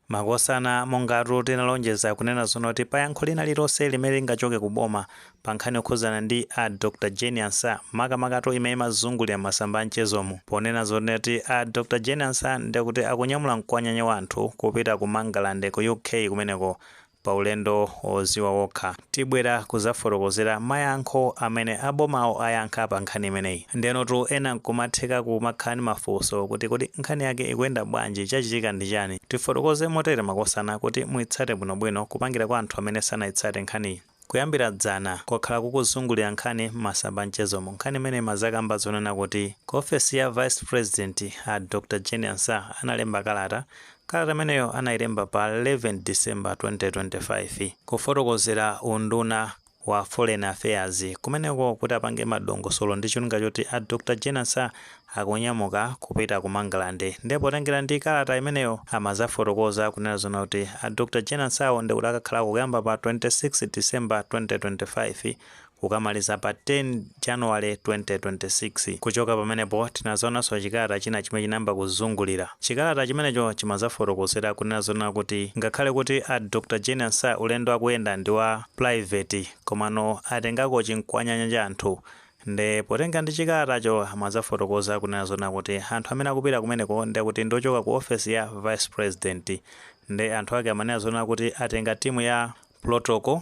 Makosana, mongatu tinalonjeza kunena zoona kuti pa yankho lina lililonse limene lingachoke ku boma pa nkhani yokhudzana ndi a Dr Jane Ansah, makamakatu imene imazungulira m'masamba a mchezomu, ponena zonena kuti a Dr Jane Ansah ndekuti akunyamula mkwanyanya wa anthu kupita ku Mangalande ku UK kumeneko paulendo woziwa wokha tibwera kuzafotokozera mayankho amene abomawo ayankha pa nkhani imeneyi ndenotu ena nkumatheka kumakhala ndi mafunso kuti kodi nkhani yake ikuyenda bwanji chachitika ndi chani tifotokoze motere makosana kuti muitsate bwino bwino kupangira kwa anthu amene sanaitsate nkhaniyi Kuyambira dzana, kwakhala kukuzungulira nkhani m'masamba a mchezomu. Nkhani imeneyi imazakamba zonena kuti ku ofesi ya Vice President a Dr Jane Ansah analemba kalata Kalata imeneyo anailemba pa 11 December 2025 kufotokozera unduna wa Foreign Affairs kumeneko kuti apange madongosolo ndi cholinga choti a Dr Jane Ansah akunyamuka kupita ku Mangalande ndepo potengera ndi kalata imeneyo amadzafotokoza kunena zoona kuti a Dr Jane Ansah wo ndekuti akakhalako kuyamba pa 26 December 2025 kukamaliza pa 10 January 2026. Kuchoka pamenepo tinazaonanso chikalata china chimene chinayamba kuzungulira. Chikalata chimenecho chimazafotokozera kunena zonena kuti ngakhale kuti a Dr Jane Ansah ulendo akuyenda ndi wa private komano atengako chimkwanyanya cha anthu nde potengera ndi chikalatacho amazafotokoza kunena zonena kuti anthu amene akupita kumeneko ndekuti ndi ochoka ku ofesi ya Vice President nde anthu ake amanena zonena kuti atenga timu ya protocol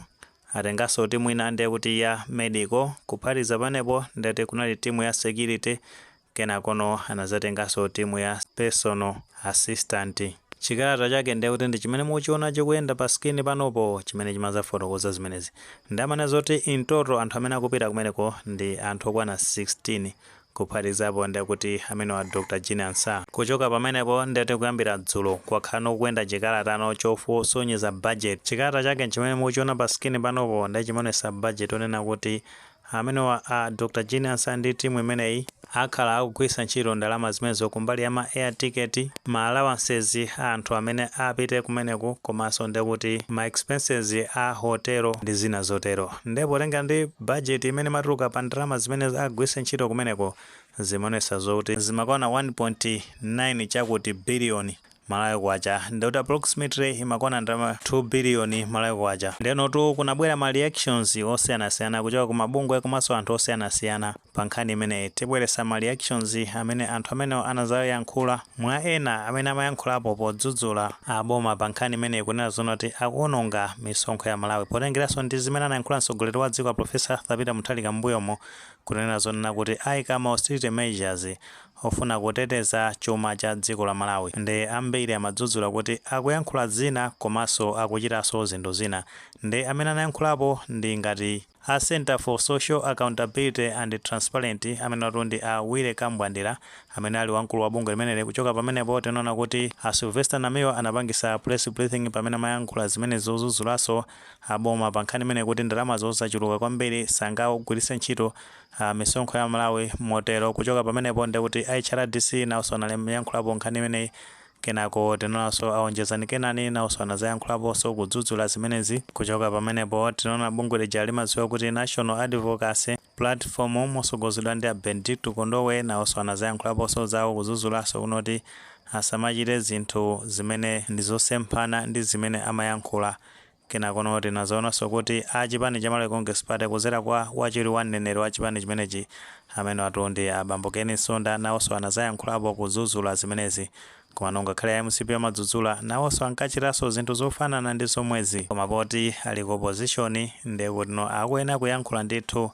Atengaso timu ina nde kuti ya medical kuphatiza pamenepo ndati kunali timu ya security kenakono anazatengaso timu ya personal assistant. Chikalata chake nde kuti ndi chimene mukuchiona chikuyenda pa screen panopo chimene chimazafotokoza zimenezi. Nde amanena zoti in total anthu amene akupita kumeneko ndi anthu okwana 16 Kuphatikizapo nde kuti amenewa a Dr Jane Ansah. Kuchoka pamenepo ndekuti kuyambira dzulo kwakhala kukuyenda chikalata no chosonyeza budget. Chikalata chake nchimene mukuchiona pa screen panopo nde chimaonesa budget onena kuti amenewa a Dr Jane Ansah ndi team imeneyi akhala akugwiritsa ntchito ndalama zimenezo kumbali ya ma air ticket, ma allowances a anthu amene apite kumeneko komanso nde kuti ma expenses a hotel ndi zina zotero. Nde potengera ndi budget imene imatuluka pa ndalama zimene agwiritse ntchito kumeneko, zimaonesa zoti zimakwana 1.9 chakuti billion Malawi Kwacha, ndekuti approximately imakwana ndalama 2 billion Malawi Kwacha. Ndenotu kunabwera ma reactions osiyanasiyana kuchoka ku mabungwe komanso anthu osiyanasiyana. Pa nkhani imeneyi, tibweresa ma reactions amene anthu amenewa anazayankhula, mwa ena amene amayankhulapo podzudzula a boma pa nkhani imeneyi kunena zonena kuti akuononga misonkho ya Malawi potengeraso ndi zimene anayankhula mtsogoleri wa dziko a Prof Arthur Peter Mutharika m'mbuyomu kunena zonena kuti aika ma austerity measures ofuna kuteteza chuma cha dziko la Malawi nde ambiri amadzudzula kuti akuyankhula zina komaso akuchitaso zinthu zina nde amene anayankhulapo ndi ngati A Centre for Social Accountability and Transparent amenewatu ndi a Willy Kambwandira amene ali wamkulu wa bungwe limeneli. Kuchoka pamenepo tinaona kuti a Sylvester Namiwa anapangisa press briefing pamene amayankhulapo zimenezi zozuzulaso a boma pa nkhani imeneyi kuti ndalamazo zachuluka kwambiri sangagwilise ntchito a misonkho ya Malawi motero kuchoka pamenepo ndekuti a HRDC naoso anaiyankhulapo nkhani imeneyi Kenako tinaonanso a Onjezani Kenani nawonso anazayankhulaponso kudzudzula zimenezi. Kuchoka pamenepo tinaona bungwe lija limadziwika kuti National Advocacy Platform mosogozedwa ndi a Bendicto Kondowe nawonso anazayankhulaponso zawo kudzudzulaso kunoti asamachite zinthu zimene ndizosemphana ndi zimene amayankhula Kenakono tinazaonaso kuti a chipani cha Malawi Congress Party kuzera kwa wachiwiri wa mneneri wa chipani chimenechi amenewatu ndi a bambo Ken Msonda nawoso anazayankhulapo kuzuzula zimenezi komano ngakhale a mcp amadzudzula nawoso ankachitaso zinthu zofanana ndi zomwezi koma poti ali ku opposition ndekutino akuyenera kuyankhula ndithu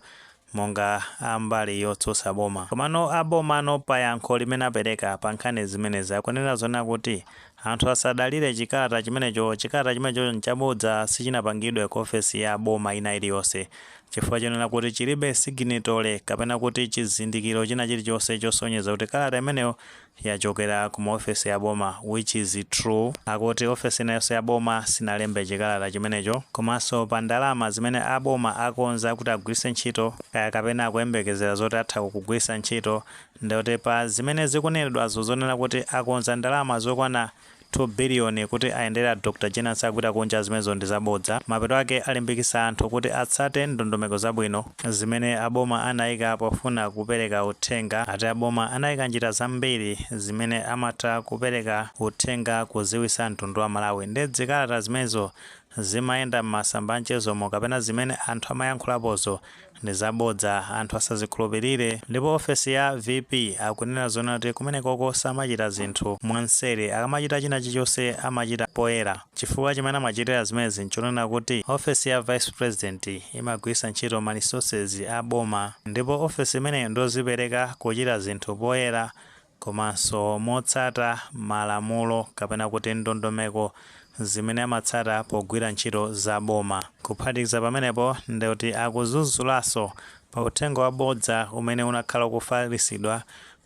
monga a mbali yotsutsa boma. Komano a bomano pa yankho limene apereka pa nkhani zimenezi akunena zonena kuti anthu asadalire chikalata chimenecho, chikalata chimenecho nchabodza sichinapangidwe ku ofesi ya boma ina iliyonse chifukwa chonena kuti chilibe siginitole kapena kuti chizindikiro china chilichonse chosonyeza kuti kalata imeneyo yachokera ku maofesi a boma which is true. Akuti ofesi ina yonse ya boma sinalembe chikalata chimenecho. Komanso pa ndalama zimene a boma akonza kuti agwiritse ntchito, kaya kapena akuyembekezera zoti atha kukagwiritsa ntchito, ndekuti pa zimene zikunenedwazo zonena kuti akonza ndalama zokwana 2 billion kuti ayendere a Dr Jane Ansah akapita kunja zimenezo ndi zabodza mapeto ake alimbikisa anthu kuti atsate ndondomeko zabwino zimene a boma anaika pofuna kupereka uthenga ati a boma anaika njira zambiri zimene amatha kupereka uthenga kuziwisa mtundu wa Malawi nde dzikalata zimenezo Zimayenda m'masamba anchezomo kapena zimene anthu amayankhulapozo ndi zabodza anthu asazikhulupilire ndipo ofesi ya VP akunena zonena kuti kumenekoko samachita zinthu mwanseri akamachita china chilichonse amachita poyera chifukwa chimene amachitira zimenezi nchonena kuti ofesi ya vice president imagwiritsa ntchito ma resources a boma ndipo ofesi imeneyo ndiyozipereka kuchita zinthu poyera komanso motsata malamulo kapena kuti ndondomeko zimene amatsata pogwira ntchito za boma. Kuphatikiza pamenepo ndikuti adzudzulaso pa uthenga wabodza umene unakhala ukufalisidwa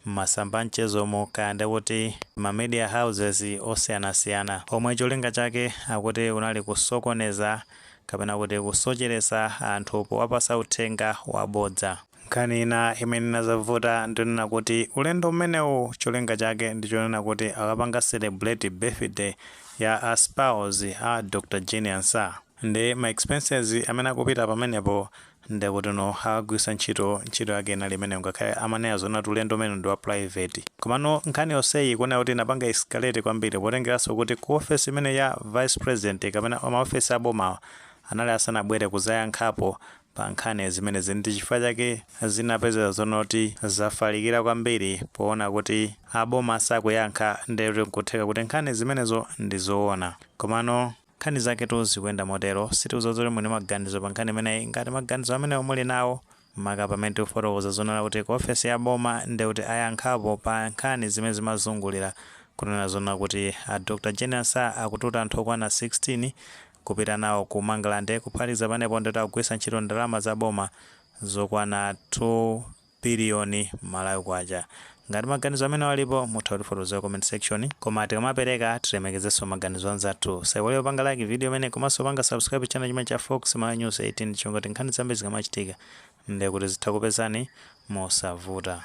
m'masamba amchezomu kaya ndikuti ma media houses osiyanasiyana omwe cholinga chake akuti unali kusokoneza kapena kuti kusocheresa anthu powapasa uthenga wabodza. Nkhani ina imene inazavuta ndionena kuti ulendo umenewu cholinga chake ndichonena kuti akapanga celebrate birthday ya a spouse a Dr Jane Ansah ndi ma expenses amene akupita pamenepo ndekutino akagwirisa ntchito yake inali imeneyo ngakhale amanena zonena kuti ulendo umenewu ndi wa private komano nkhani yonseyi ikuoneka kuti inapanga escalate kwambiri potengeranso kuti ku office imeneyi ya vice president kapena ma office abomawa anali asanabwere kuzayankhapo pa nkhani ya zimenezi ndi chifukwa chake zinapezeka zonati zafalikira kwambiri poona kuti a boma sakuyankha ndiye kuti nkutheka kuti nkhani zimenezo ndi zoona komano nkhani zaketu zikuyenda motero sitidziwa kuti muli ndi maganizo pa nkhani imeneyi ngati maganizo amenewo muli nawo maka pamene tikufotokoza zonena kuti ku ofesi ya boma ndiye kuti ayankhapo pa nkhani zimene zimazungulira kutena zonena kuti a dr jane ansah akututa anthu okwana 16 kupita nawo ku Mangalande kuphatikiza pamenepo ndikuti akugwirisa ntchito ndalama za boma zokwana 2 biliyoni Malawi kwacha. Ngati maganizo amenewa alipo mutha kutifotokozera ku comment section. Koma tikamapereka tilemekezeso maganizo anzathu. Osaiwala kupanga like video imeneyi komaso kupanga subscribe channel chimenechi cha Fox Malawi News 18 chifukwa choti nkhani zambiri zikamachitika ndekuti zitha kupezani mosavuta.